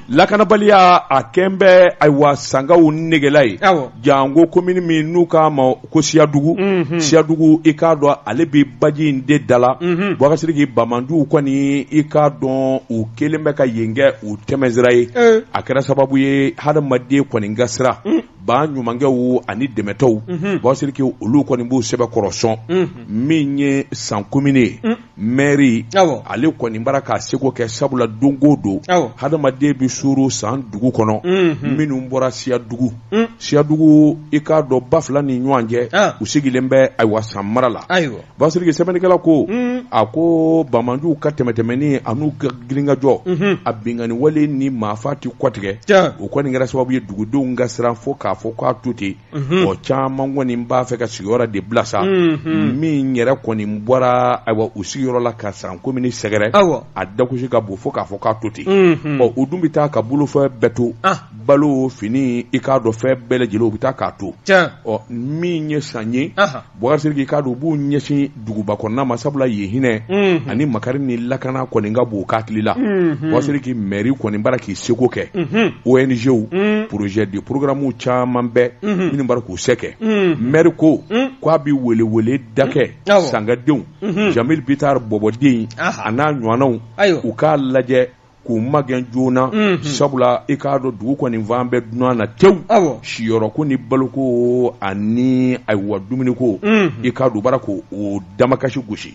lakanabaliya a kɛn bɛ ayiwa sankaw negela ye Awɔ. janko komini min n'u k'a ma ko siyadugu Mhm. siyadugu i k'a dɔn ale bɛ baji in de da la Mhm. bɔkari siriki bamanjuw kɔni i k'a dɔn u kelen bɛ ka yen kɛ u tɛmɛnsira ye Eh. a kɛra sababu ye hadamaden kɔni ka siran ba ɲumankɛw ani dɛmɛtɔnw Mhm. bɔkari siriki olu kɔni b'u sɛbɛkɔrɔ sɔn Mhm. min ye san komini ye mɛri ale kɔni bara k'a seko kɛ sabula don go don hadamaden bɛ suuru san dugu kɔnɔ minnu bɔra siyadugu siyadugu i k'a dɔn ba fila ni ɲɔgɔn cɛ u sigilen bɛ ayiwa san mara la bɔkari siriki sɛbɛnnikɛla ko a ko bamanjuw ka tɛmɛtɛmɛni an'u ka girinkajɔ a binkanni wale ni maafa tɛ kɔtigɛ o kɔni kɛra sababu ye dugudenw ka siran fo k'a fɔ k'a to ten Mhm. o caman kɔni b'a fɛ ka sigiyɔrɔ de bila sa mhm. min yɛrɛ kɔni bɔra ayiwa u sigiyɔrɔ la ka san komini sɛgɛrɛ a dakusi ka bon fo k'a fɔ k'a to ten mhm. ɔ u dun bɛ taa ka bolofɛn bɛɛ to ah. balo fini i k'a dɔn fɛn bɛɛ lajɛlen u bɛ taa k'a to ɔ min ye san ye Bɔkari siriki i k'a dɔn u b'u ɲɛsin duguba kɔnɔna ma sabula yen hinɛ ani makari ni lakana kɔni ka bon u hakili la bɔkari siriki mɛri kɔni bara k'i seko kɛ ONGw projet de programme caman bɛ minnu bara k'u se kɛ mɛri ko k'a bɛ weleweleda kɛ san ka denw Jamil Bitar bɔbɔden a n'a ɲɔgɔnnaw u k'a lajɛ k'u magɛn joona Unhun. sabula i k'a dɔn dugu kɔni fan bɛɛ dunan na tewu Awɔ. siyɔrɔko ni baloko ani ayiwa dumuniko Unhun. i k'a dɔn u bara k'o damakasi gosi